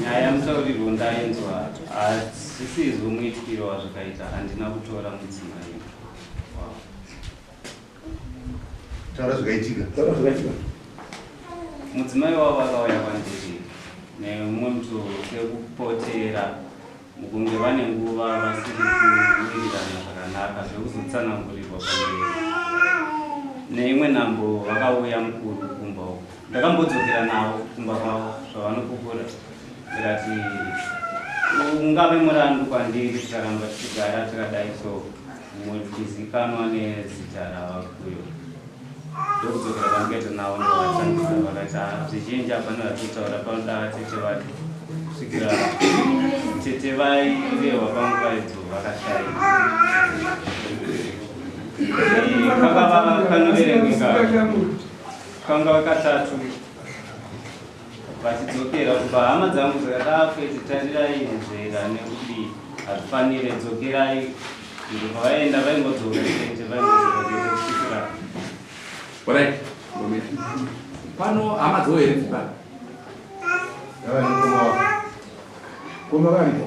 nyaya musaurirwo ndainzwa hazvisizvo muitikiro wazvakaita handina kutora mudzimai taura zvakaitika taura zvakaitika mudzimai wavo akauya kwandiri nemumwe mutu sekupotera mukunge vane nguva vasiri kuwirirana zvakanaka zvekuzotsanangurirwa pamberi neimwe nhambo vakauya mukuru kumba uku ndakambodzokera navo kumba kwavo zvavanopupura zvirati ungave murandu kwandiri tikaramba tichigara tikadai so mutizikanwa nezita ravakuyo ndokudzokera kwandikaita navo ndovashandisa vakaita zvizhinji havana vatitaura panoda vatete vake kusvikira tete vairehwa pangu vaidzo vakashaika kakava kanoverengeka kanga katatu vachidzokera kubva hama dzangu dzakadaro kuti tarirai nzvera nekuti hazvifanire dzokerai izvo pavaenda vaingodzoka chete vaingodzoka chete kusvikira orai pano hama dzoo here dzipa koma variko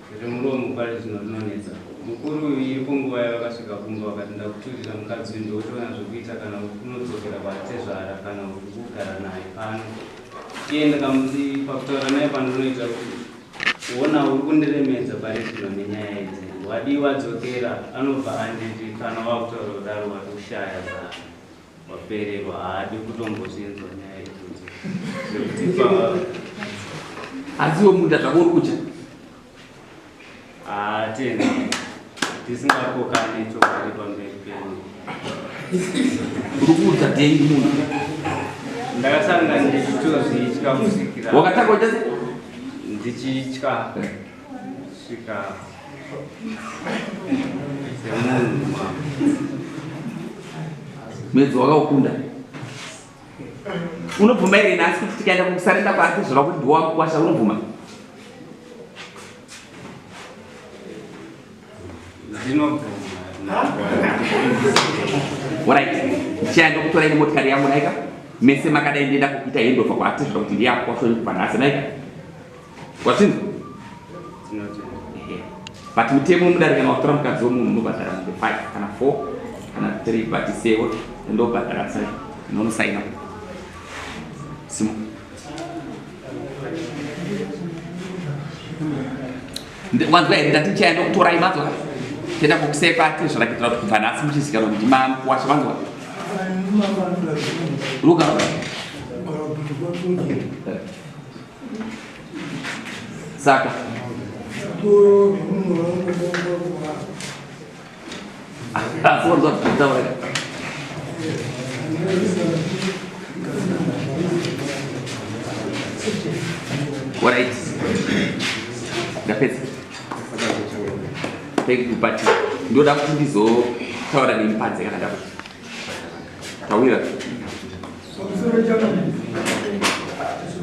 Remuromo mupari zvino rinonetsa. Mukuru uyu iripo nguva yavakasvika kumba vakati ndakuturira mukadzi uyu ndokutoona zvekuita kana kunodzokera kwatezvara kana kugara naye pano. Iye ndakamuti pakutaura naye pandinoita kuti kuona uri kundiremedza pari zvino nenyaya idzi. Wadii wadzokera anobva anditi kana wakutaura kudaro watoshaya zano. Wapererwa haadi kutombozvinzwa nyaya idzodzo. Zvekuti pa Asi iwe munda zvako uri kudya. ah tena tisingakokane chokwadi pamberi penyu. Uri kuudza dhengi munhu. Ndakasanga ndichitozvitya kusikira. Wakatanga uchati? Ndichitya. Sika. Mwedzi wakaukunda. Unobvuma here nhasi kuti tikaenda kukusarenda kwake zvava kuti ndiwa mukwasha unobvuma? Ndinobvuma. Alright. Chienda kutora ine motikari yangu naika. Mese makadai ndienda kukuita handover kwaati zvava kuti ndiya kwasha kubva nhasi naika. Wachinzwa? But mutemo wemudare kana watora mukadzi wemunhu unobhadhara mombe 5 kana 4 kana 3 but sewo ndobhadhara sai unonosaina simo wanzwa here ndati ndichaenda kutora imadzo tenda kukusepa tezvarakitira kuti kubva nhasi muchizikanwa kuti makuwasha vanzwa luka saka Alright. Ndapedza. Thank you but ndoda kuti ndizotaura nemi panze kana ndakuti. Tawira.